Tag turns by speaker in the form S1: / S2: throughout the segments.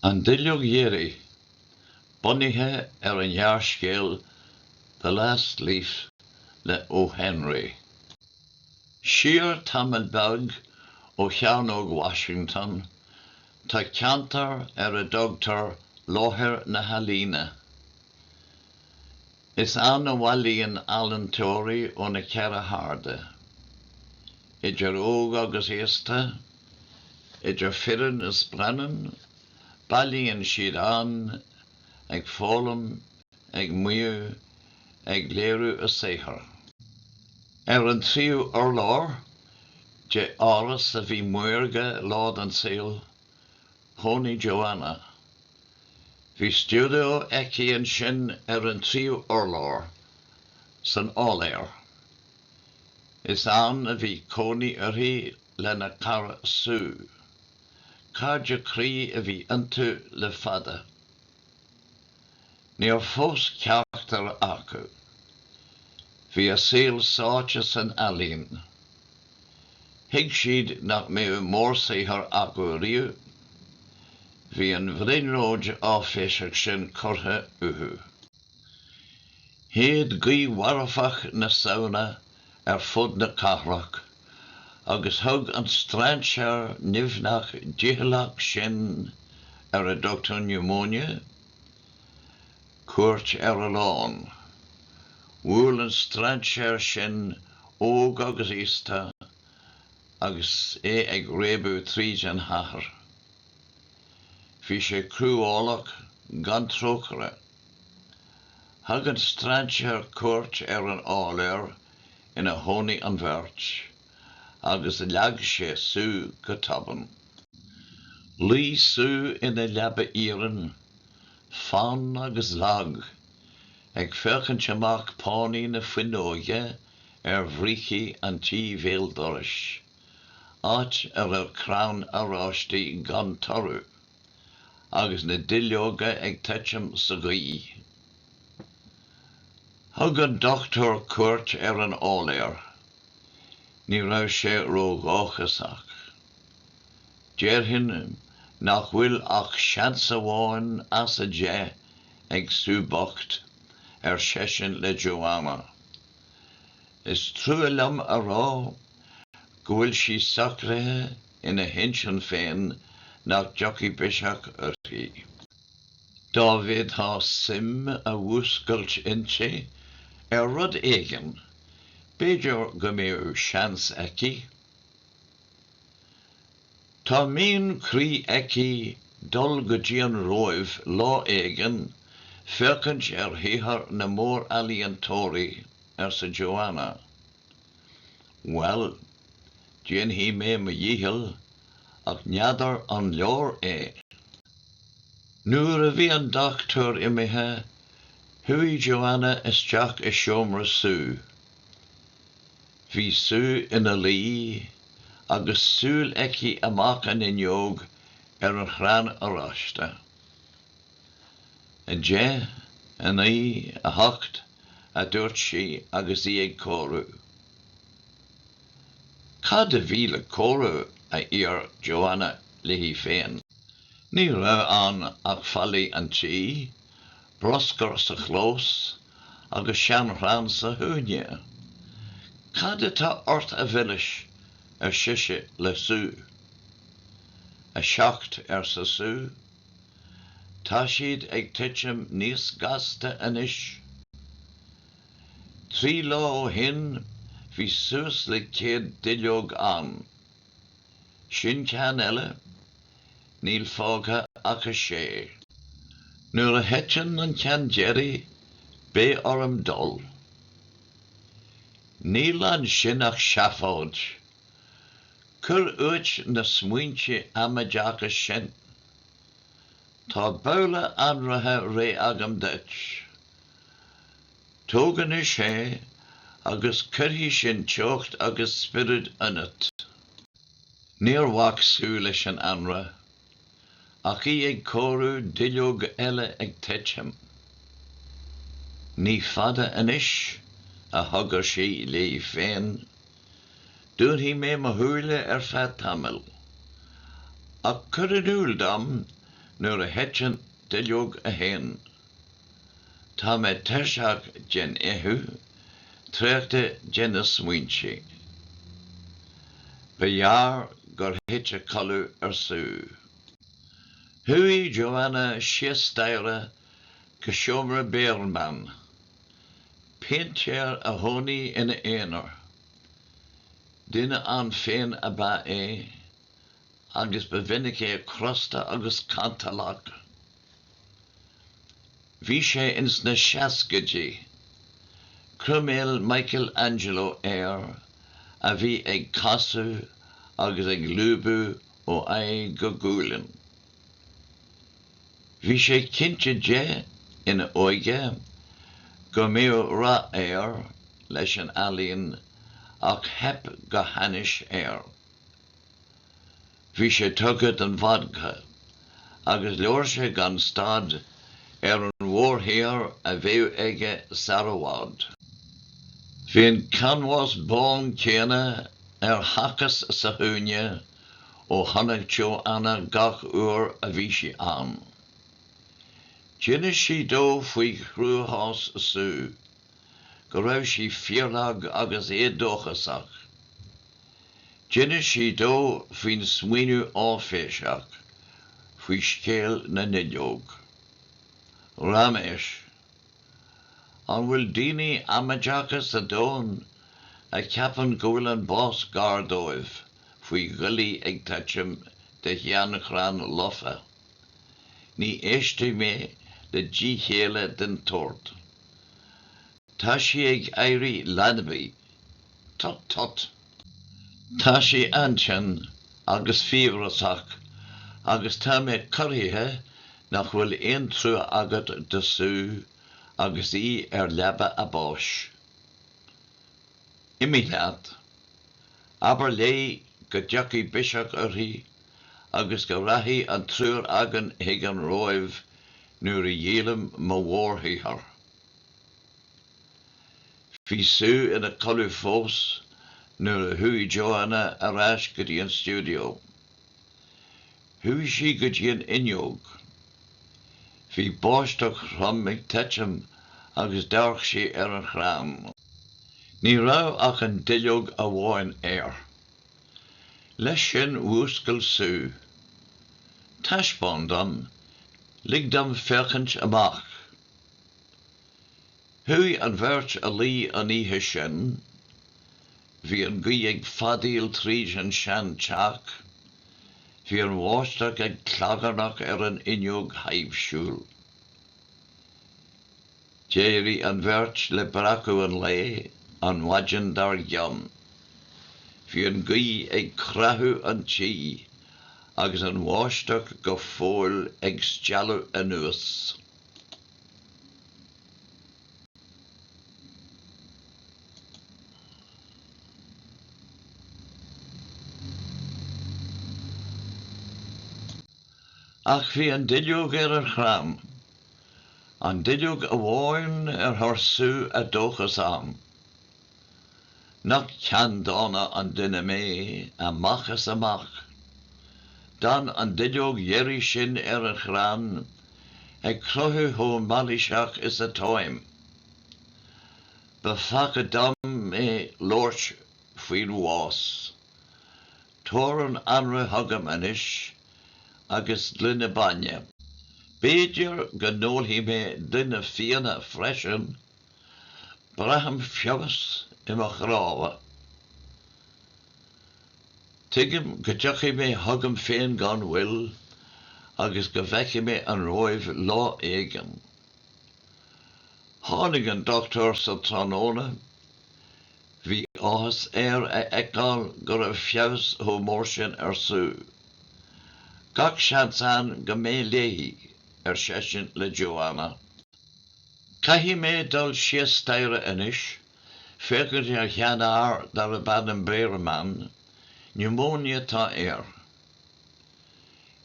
S1: An Duilleog Dheiridh, bunaithe ar an ghearrscéal The Last Leaf le O. Henry. Siar tamall beag ó Chearnóg Washington, tá ceantar ar a dtugtar Láthair na hEalaíne. Is ann a bhailíonn ealainteoirí ó na ceithre hairde, idir óg agus aosta, idir fireann is baineann, bailíonn siad ann ag foghlaim, ag maíomh, ag léiriú a saothar. Ar an tríú urlár de áras a bhí maorga lá den saol, Chónaigh Joanna. Bhí stiúideo aici ansin ar an tríú urlár, san áiléar. Is ann a bhí cónaí uirthi lena cara Sue. Cairde croí a bhí iontu le fada. Níor phós ceachtar acu. Bhí a saol sáite san ealaín. Thuig siad nach mbeadh mórsaothar acu riamh. Bhí an bhrionglóid áiféiseach sin curtha uathu. Shéid gaoth mharfach na Samhna ar fud na cathrach, agus thug an strainséir nimhneach dícheallach sin ar a dtugtar pneumonia? cuairt ar a lán. Bhuail an strainséir sin óg agus aosta agus é ag réabadh tríd an chathair. Bhí sé cruálach gan trócaire. Thug an strainséir cuairt ar an áiléar inar chónaigh an bheirt agus leag sé Sue go tobann. Luigh Sue ina leaba iarainn, fann agus lag, ag féachaint amach pánaí na fuinneoige ar bhrící an tí bhéal dorais, áit a raibh crann oráistí gan toradh. agus na duilleoga ag titim sa ghaoth. Thug an dochtúir cuairt ar an áiléar. Ní raibh sé ródhóchasach. Déarfainn nach bhfuil ach seans amháin as an deich ag Sue bocht, ar seisean le Joanna. Is trua liom a rá go bhfuil sí socraithe ina hintinn féin nach dtiocfaidh biseach uirthi. Dá bhféadthá suim a mhúscailt inti ar rud éigin, b'fhéidir go mbeadh seans aici. Tá mian croí aici dul go dtí an Róimh lá éigin féachaint ar shaothar na mór-ealaíontóirí, arsa Joanna. Bhuel, déanfaidh mé mo dhícheall, ach n'fheadar an leor é. Nuair a bhí an doctúir imithe, chuaigh Joanna isteach i seomra Sue. Bhí Sue ina luí agus súil aici amach an fhuinneog ar an chrann oráiste. A deich, a naoi, a hocht, a dúirt sí agus í ag comhaireamh. Cad a bhí le comhaireamh, a d'iarr Joanna léi féin. Ní raibh ann ach fallaí an tí, bruscar sa chlós agus seanchrann sa chúinne. Cad atá ort a mhilis? ar sise le Sue. A seacht, arsa Sue. Tá siad ag titim níos gasta anois. Trí lá ó shin bhí suas le céad duilleog ann. Sin ceann eile, níl fágtha ach a sé. Nuair a thiteann an ceann deiridh beidh orm dul. Níl ansin ach seafóid! Cuir uait na smaointe amaideacha sin. Tá babhla anraithe réidh agam duit. Tóg anois é agus cuirfidh sin teocht agus spiorad ionat. Níor bhac Sue leis an anraith Ach í ag comhaireamh duilleog eile ag titim. Ní fada anois, a chogair sí léi féin, dúnfaidh mé mo shúile ar feadh tamaill. Ach cuir in iúl dom nuair a thiteann duilleog a haon. Tá mé tuirseach den fheitheamh, traochta de na smaointe. Ba ghearr gur thit a codladh ar Sue. Chuaigh Joanna síos staighre go seomra Behrman, péintéir a chónaigh ina aonar. Duine ann féin ab ea é, agus ba mhinic é crosta agus cantalach. Bhí sé ins na seascaidí. Croiméal Michael Angelo air, a bhí ag casadh agus ag lúbadh ó aghaidh go gualainn. Bhí sé cinnte de, ina óige, go mbíodh rath air leis an ealaín ach theip go hainnis air. Bhí sé tugtha don bhodca agus labhair sé gan stad ar an mhórshaothar a bheadh aige sar i bhfad. Bhí an canbhás bán céanna ar thacas sa chúinne ó tháinig Joanna gach uair a bhí sí ann. D'inis sí dó faoi chruachás Sue. go raibh sí fíorlag agus éadóchasach. D'inis sí dó faoin smaoineamh áiféiseach faoi scéal na nduilleog. Raiméis. An bhfuil daoine amaideacha sa domhan a cheapann go bhfuil an bás gar dóibh faoi dhuillí ag titim de sheanchrann lofa? Ní éistfidh mé le díchéille den tsórt. Tá sí ag éirí leanbaí. Tut, tut! Tá sí an-tinn agus fiabhrasach agus tá mé corraithe nach bhfuil aon trua agat do Sue agus í ar leaba a báis. Imigh leat. Abair léi go dtiocfaidh biseach uirthi agus go rachaidh an triúr againn chuig an Róimh nuair a dhíolaim mo mhórshaothar. Bhí Sue ina codladh fós nuair a chuaigh Joanna ar ais go dtí an stiúideo. Chuaigh sí go dtí an fhuinneog. Bhí báisteach throm ag titim agus dhearc sí ar an chrann. Ní raibh ach an duilleog amháin air. Leis sin mhúscail Sue. Taispeáin dom, lig dom féachaint amach! Chuaigh an bheirt a luí an oíche sin. Bhí an ghaoth ag feadaíl tríd an sean teach, bhí an bháisteach ag clagarnach ar an fhuinneog thaibhsiúil. D'éirigh an bheirt le breacadh an lae an mhaidin dar gcionn. Bhí an ghaoth ag creathadh an tí agus an bháisteach go fóill ag stealladh anuas. Ach bhí an duilleog ar an chrann. An duilleog amháin ar chuir Sue a dóchas ann. Nach ceanndána an duine mé, amach is amach. D'fhan an duilleog dheiridh sin ar an chrann, ag cruthú chomh mailíseach is atáim. Ba pheaca dom labhairt faoin bhás. Tabhair an anraith chugam anois agus gloine bainne. B'fhéidir go n-ólfaidh mé gloine fíona freisin. Braithim feabhas i mo chnámha. Tuigim go dtiocfaidh mé chugam féin gan mhoill agus go bhfeicfidh mé an Róimh lá éigin. Tháinig an dochtúir sa tráthnóna. Bhí áthas air a fheiceáil go raibh feabhas chomh mór sin ar Sue. Gach seans ann go mbeidh léi, ar seisean le Joanna. Caithfidh mé dul síos staighre anois, féachaint ar sheanfhear darb ainm Bearman, niúmóine atá air.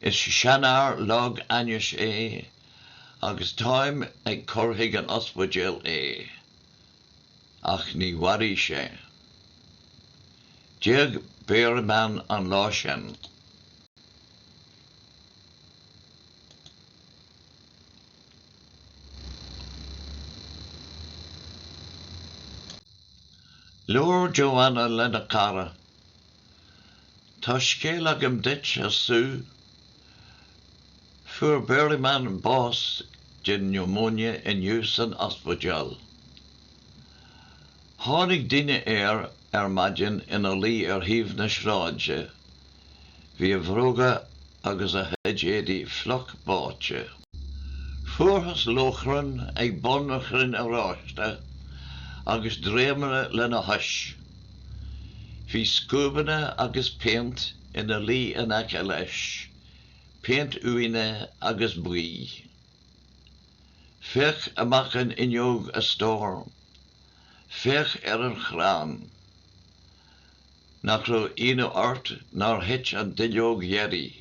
S1: Is seanfhear lag ainnis é agus táim ag cur chuig an ospidéal é. ach ní mhairfidh sé. D'éag Bearman an lá sin. Labhair Joanna lena cara Tá scéal agam duit, a Sue. Fuair Bearman bás den niúmóine inniu san ospidéal. Tháinig duine air ar maidin ina luí ar thaobh na sráide. Bhí a bhróga agus a chuid éadaí fliuch báite. Fuarthas lóchrann ag bun an chrainn aréir agus dréimire lena chois. Bhí scuabanna agus péint ina luí in aice leis, péint uaine agus buí. Féach amach an fhuinneog, a stór. Féach ar an chrann. Nach raibh ionadh ort nár thit an duilleog dheiridh?